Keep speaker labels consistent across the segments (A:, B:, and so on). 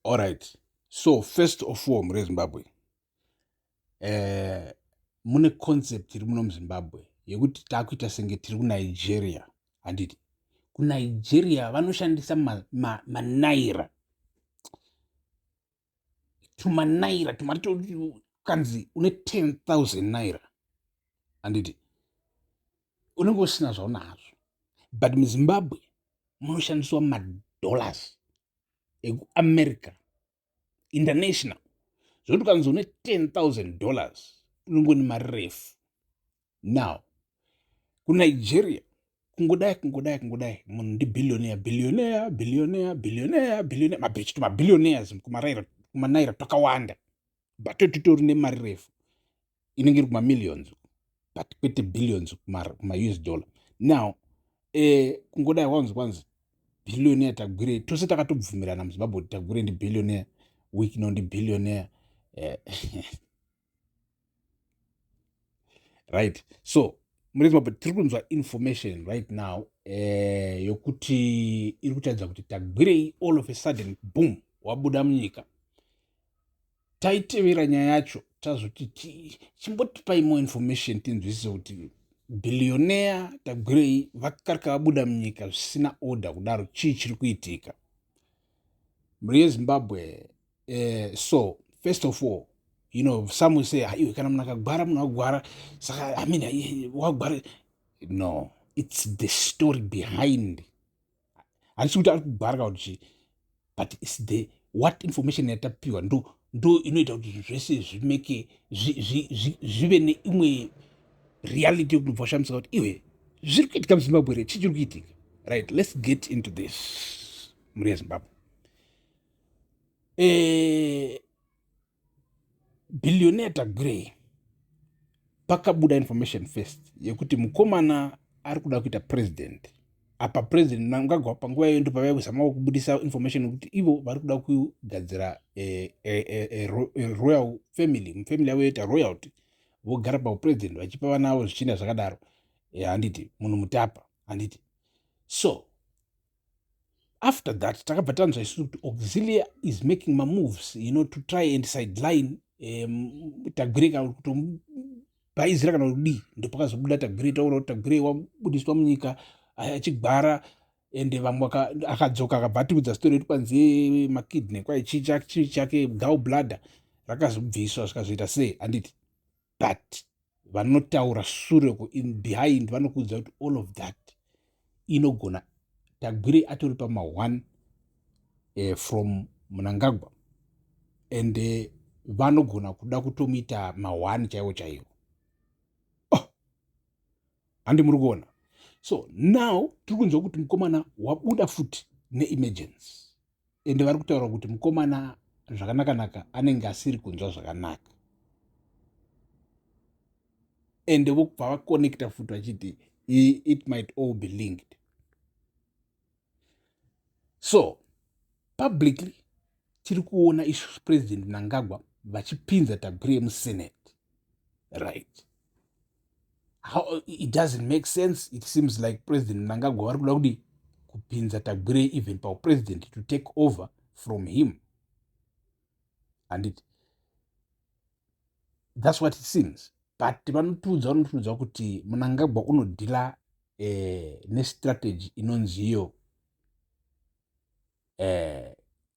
A: Alright. So first of all mure Zimbabwe. Eh mune concept iri muno muZimbabwe yekuti takuita senge tiri kuNigeria. Handiti kuNigeria vanoshandisa manaira ma, ma naira. tumanaira tumari kanzi une 10000 naira handiti unenge usina zvaunazvo but muzimbabwe munoshandiswa madollars ekuamerica international zvokuti ukanzi une 10000 dollars unongoni mari refu now kunigeria kungodai kungodai kungodai munhu ndibillionair billionair billionair billionair billionair mabhechito mabillionaires kumanaira twakawanda but titori nemari refu inenge iri kumamillions but kwete billions kumaus dollar now eh, kungodai wanzi kwanzi billionaire tagwirei tose takatobvumirana muzimbabwe kuti tagwirei ndi billionaire wikno ndi billionaire eh, right so mune zimbabwe tiri kunzwa information right now eh, yokuti iri kutaridza kuti tagwirei all of a sudden boom wabuda munyika taitevera nyaya yacho tazoti chimbotipai more information tinzwisise kuti billionaire tagwirei vakarika vabuda munyika zvisina order kudaro chii chiri kuitika mhuri yezimbabwe eh, so first of all you know some will say iwe kana munhu akagwara munhu agwara saka i mean wagwara no it's the story behind handisi kuti ari kugwara kana kuti chii but its the what information yatapiwa ndo ndo inoita kuti zvinhu zvese zvimeke zvive neimwe reality yokuti mubva washamisika kuti iwe zviri kuitika muzimbabwe re chii chiri kuitika right let's get into this mhuri yezimbabwe eh, Billionaire Tagwirei pakabuda information first yekuti mukomana ari kuda kuita president apa president mnangagwa panguva iyoyo ndopavai kuzamawo kubudisa information yekuti ivo vari kuda kugadzira eh, eh, eh, royal family mufamily yavo yoita royalty vogara paupresident vachipa vana avo zvichienda zvakadaro handiti munhu mutapa handiti so after that takabva tanzwa isu kuti auxilia is making mamoves you know to try and sideline um, tagwire kana kutomubhaizira kana kudii ndopakazobuda tagwire taura kuti tagwire wabudiswa munyika achigwara ende vamwe akadzoka akabva atiudza story yekuti kwanzi makidney kwai chii chake gal bladder rakazobviswa zvikazoita sei handiti but vanotaura sure behind vanokuudza kuti all of that inogona tagwirei atori pama one uh, from munangagwa and uh, vanogona kuda kutomuita mahwani chaiwo chaiwo oh. handi muri kuona so now tiri kunzwa kuti mukomana wabuda futi neemergency ende vari kutaura kuti mukomana zvakanakanaka anenge asiri kunzwa zvakanaka ende vokubva vaconnecta futi vachiti it might all be linked so publicly tiri kuona isu president mnangagwa vachipinza tagwire musenate right How, it doesn't make sense it seems like president mnangagwa vari kuda kudi kupinza tagwire even paupresident to take over from him and it, that's what it seems but vanotiudza vanotiudza kuti munangagwa unodhila eh, nestrategy inonziyo eh,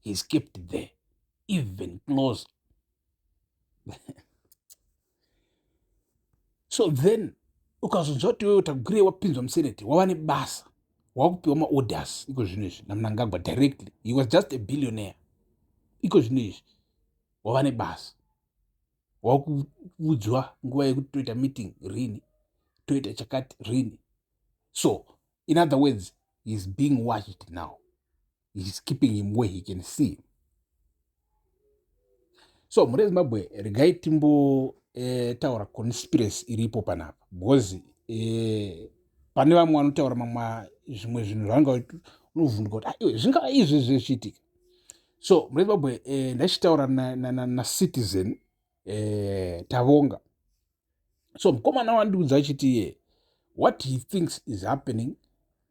A: he skipped there even close so then ukazonzwa kuti wewe tagure wapinzwa museneti wava nebasa wakupiwa maorders iko zvinhu izvi namnangagwa directly he was just a billionaire iko zvinhu izvi wava nebasa wakuudzwa nguva yekuti toita meeting rini toita chakati rini so in other words heis being watched now he's keeping him where he can see so mhuri yezimbabwe regai timbo eh, taura conspiracy iripo panapa because eh, pane vamwe vanotaura mamwa zvimwe zvinhu zvaanga unovhunduka kuti aiwe ah, zvingava izvi zvichiitika so mhuri yezimbabwe eh, ndachitaura nacitizen na, na, na eh, tavonga so mukomana wandiudza achiti ye what he thinks is happening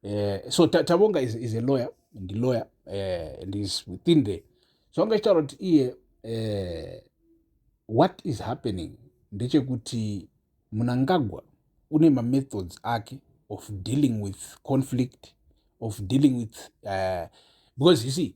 A: uh, so tabonga is, is a lawyer ndilawyer uh, eh, and is within the so anga chitaura kuti iye uh, what is happening ndechekuti munangagwa une mamethods ake of dealing with conflict of dealing with uh, because you see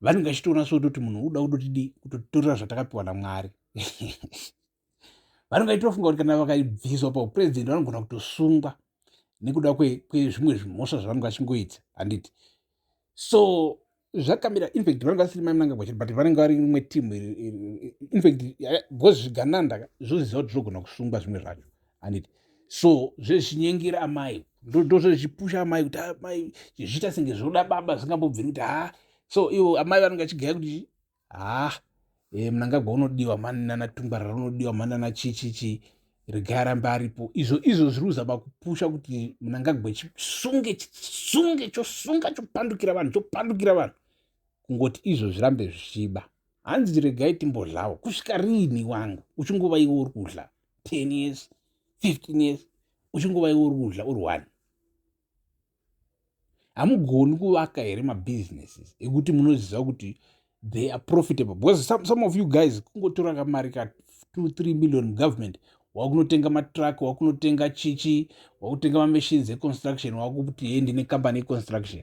A: vanenge vachitoona soti kuti munhu uda kudotidii kutotorera zvatakapiwa namwari vanenge vachitofunga kuti kana vakaibviswa paupurezidendi vanogona kutosungwa nekuda kwezvimwe zvimhosva zvavanenge vachingoita handiti so zvakamira infact vanenge vasiri maimnanga kwachiri but vanenge vari imwe team infact because zvigananda zvoziva kuti zvogona kusungwa zvimwe zvacho anditi so zvezvinyengera amai ndozvezvipusha amai kuti amai ah, chizviita senge zvoda baba zvingambobviri kuti ha ah. so ivo amai vanenge achigaya kuti ha ah, e, eh, mnangagwa unodiwa mani nana tungwarara unodiwa mani nana chichichi regai arambe aripo izvo izvo zviri kuzama kupusha kuti mnangagwa chisunge chisunge chosunga chopandukira vanhu chopandukira vanhu kungoti izvo zvirambe zvichiba hanzi regai timbodlawo kusvika riini wangu uchingova iwe uri kudla 10 years 15 years uchingova iwe uri kudya uri one hamugoni kuvaka here mabusinesses ekuti munoziva kuti they are profitable because some, some of you guys kungotora kamari ka 23 million government wakunotenga matruck wakunotenga chichi wakutenga mamachines econstruction wakuti hee ndine company econstruction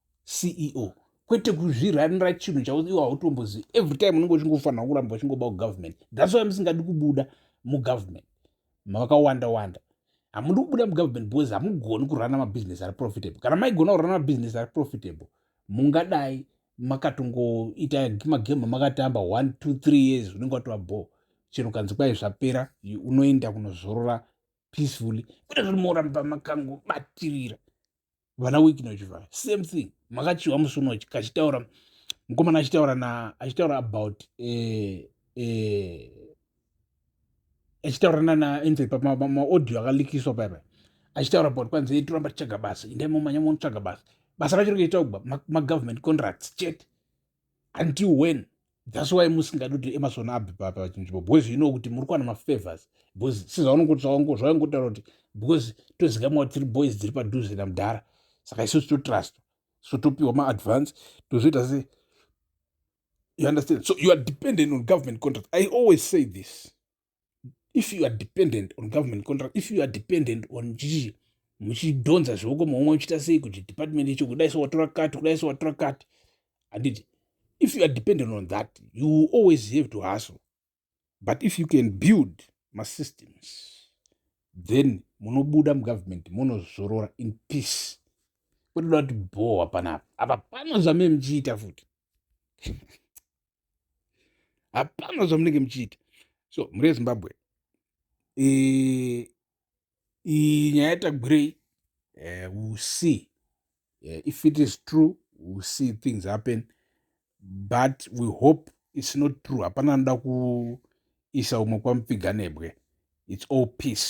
A: ceo kwete kuzviranira chinhu chavo iwo hautombozivi every time unenge uchingofanira kuramba uchingoba kugovernment that's why musingadi kubuda mugovernment makawanda wanda hamudi kubuda mugovernment because hamugoni kurana mabusiness ari profitable kana maigona kurana mabusiness ari profitable mungadai makatongoita magame makatamba one two three years unenge watova bhoo chero kanzi kwai zvapera unoenda kunozorora peacefully kuda zviri moramba makangobatirira vana wiki nochivaya same thing makachiwa musi uno kachitaura mukomana achitaura na achitaura about eh, eh, achitaura nana enze pamaaudio akalikiswa paya paya achitaura about kwanzi toramba tichaga basa indai momanya monotsvaga basa basa racho rikaita kuba magovernment contracts chete until when thats why musingadi kuti emasona abve pachinzvimbo because you know kuti muri kuwana mafavors because sezvaungotaura kuti because tozikamwa kuti tiri boys dziri padhuze namudhara saka isusu totrustwa so topiwa maadvance tozoita se you understand so you are dependent on government contract i always say this if you are dependent on government contract if you are dependent on chii muchidhonza zvioko maumwe muchiita sei kuti department icho kudai so watora kati kudai so watora kati handiti if you are dependent on that you will always have to hustle but if you can build masystems then munobuda mugovernment munozorora in peace kutoda kuti bhowa panapa apa pano zvamee muchiita futi hapana zvamunenge muchiita so mhuri yezimbabwe iyi nyaya yatagwirei eh, will see eh, if it is true will see things happen but we hope its not true hapana anoda kuisa umwe kwamupfiganebwe its all peace